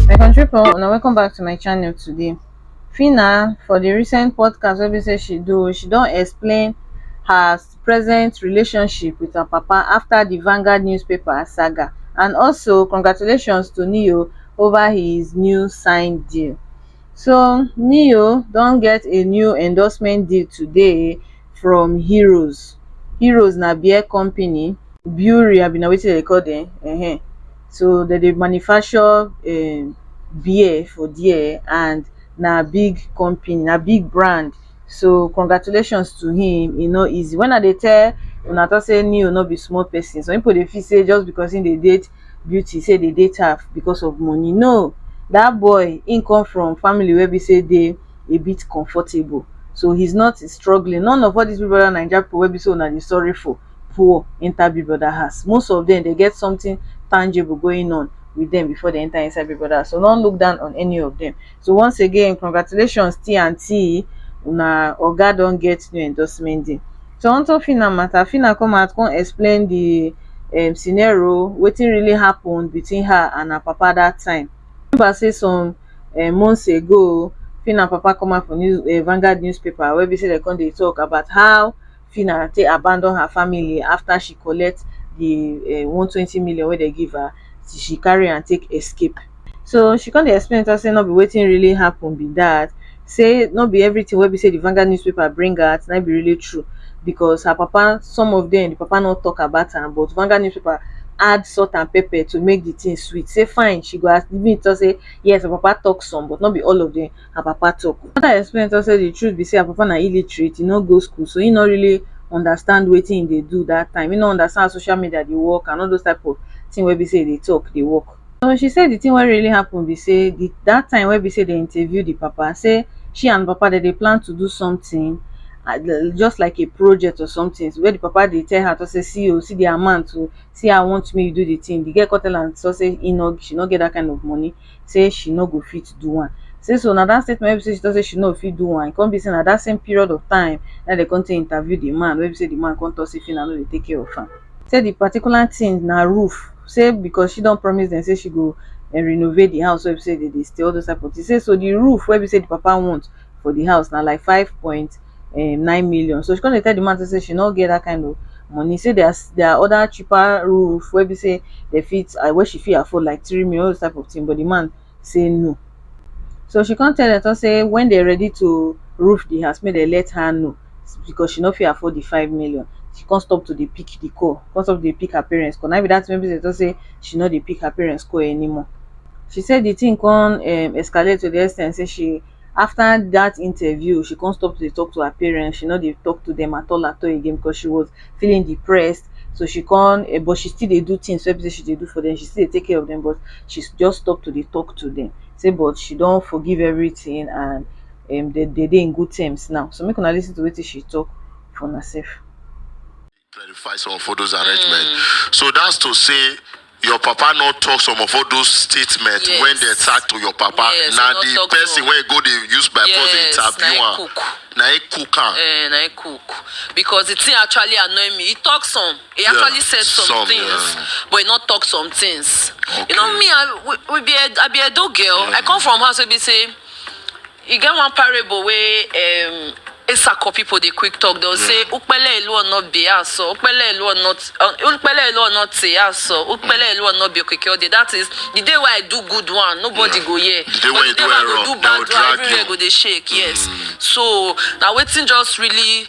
my country pipo una welcome back to my channel today Phyna for the recent podcast wey be say she do she don explain her present relationship with her papa after the Vanguard newspaper saga and also congratulations to Ne-Yo over his new signed deal so neo don get a new endorsement deal today from heroes heroes na beer company brewery abi na wetin dem dey call dem um so dem dey manufacture um beer for there and na big company na big brand so congratulations to him e no easy when i dey tell una talk say Neo no be small person some people dey feel say just because he dey date beauty say dey date her because of money no that boy he come from family wey be say dey a bit comfortable so he's not struggling none of all these big brother naija people wey be say una dey sorry for poor enter big brother house most of them dey get something tangible going on with them before they enter inside big brother house so no look down on any of them So once again, congratulations T and T, una oga don get new endorsement deal. So on top Fina matter, Fina come out come explain the um, scenario, wetin really happened between her and her papa that time. Remember say some um, months ago, Fina papa come out for news, uh, Vanguard newspaper where be say they come dey talk about how Phyna take abandon her family after she collect the um one twenty million wey dem give her, she carry am take escape. So she come dey explain to us say no be wetin really happen be that, say no be everything wey be say the Vanguard newspaper bring out na im be really true because her papa, some of them, the papa no talk about am but Vanguard newspaper add salt and pepper to make the thing sweet, say fine she go admit to us say yes her papa talk some but no be all of them. her papa talk. Her mother explain to am say the truth be say her papa na illiterate, e no go school, so he no really understand wetin e dey do that time. He no understand how social media dey work and all those type of thing wey be say e dey talk dey work. So she say the thing wey really happen be say the that time wey be say dem interview the papa say she and the papa dem dey plan to do something just like a project or something where the papa dey tell her to say see o, see the amount o, see how I want make you do the thing. The girl come tell am to say he no, she no get that kind of money. sey she no go fit do am. Sey so na dat statement wey be sey she talk sey she no fit do am, e come be sey na dat same period of time na im dem come take interview de man wey be sey de man come talk sey Phyna no dey take care of am. Sey de particular thing na roof, sey because she don promise dem sey she go renovate de house wey be sey dem dey stay, all those type of things. Sey so de roof wey be sey de papa want for the house na like five point um nine million so she come dey tell the man say she no get that kind of money say there are there are other cheaper roof wey be say they fit uh, wey she fit afford like three million all those type of thing but the man say no so she come tell them talk say when they ready to roof the house make they let her know because she no fit afford the five million she come stop to dey pick the call come stop to dey pick her parents call na be that thing wey be say talk say she no dey pick her parents call anymore she say the thing come um escalate to the extent say she after that interview, she come stop to dey talk to her parents, she no dey talk to them at all at all again because she was feeling depressed, so she come um but she still dey do things wey be sey she dey do for them, she still dey take care of them but she just stop to dey talk to them, sey but she don forgive everything and um dem dey in good terms now, so make una lis ten to wetin she talk for una sef. clarify some of all those arrangement mm. so that's to say your papa no talk some of all those statements yes. when they talk to your papa yes, na the person wey go dey use by yes, force dey interview am na he cook am. Eh, na he cook because the thing actually annoy me he talk some he yeah, actually said some, some things yeah. but he no talk some things okay. you know me i we, we be a, i be edo girl yeah. i come from house wey be say E get one parable wey um Esako people dey quick talk. They'll say, Ukpele elu ono be aso, ukpele elu ono, ukpele elu ono te aso, ukpele elu ono be okeke ode. That is, the day where I do good one, nobody go hear. The day But when you the day do where I error, go do they will bad one, drag everywhere you. go dey shake. Yes. So, now waiting just really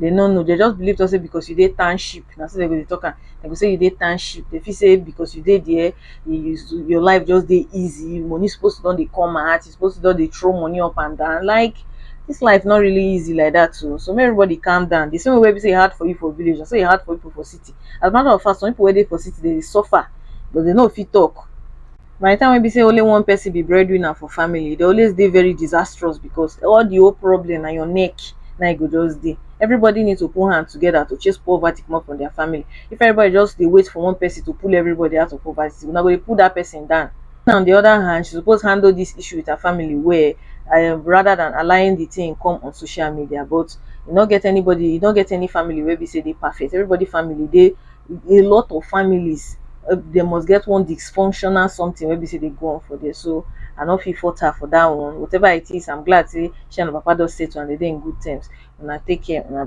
dey no know dey just believe talk say because you dey township na so dey go dey talk am dey go say you dey township dey feel say because you dey there your life just dey easy money suppose to don dey come out you suppose to don dey throw money up and down like this life no really easy like that oo so make everybody calm down the same way wey be say e hard for you for village na so e hard for people for city as a matter of fact some people wey dey for city dey dey suffer but dey no fit talk by the time wey be say only one person be breadwinner for family e dey always dey very disastrous because all the whole problem na your neck na e go just dey everybody need to put hand together to chase poverty comot from their family if everybody just dey wait for one person to pull everybody out of poverty una go dey pull that person down now on the other hand she suppose handle this issue with her family well um rather than allowing the thing come on social media but e no get anybody e no get any family wey be say dey perfect everybody family dey a lot of families dem must get one dysfunctional something wey be sey dey go on for there so I no fit fault her for that one whatever it is I'm glad sey she and her papa don settle and dem dey in good terms una take care una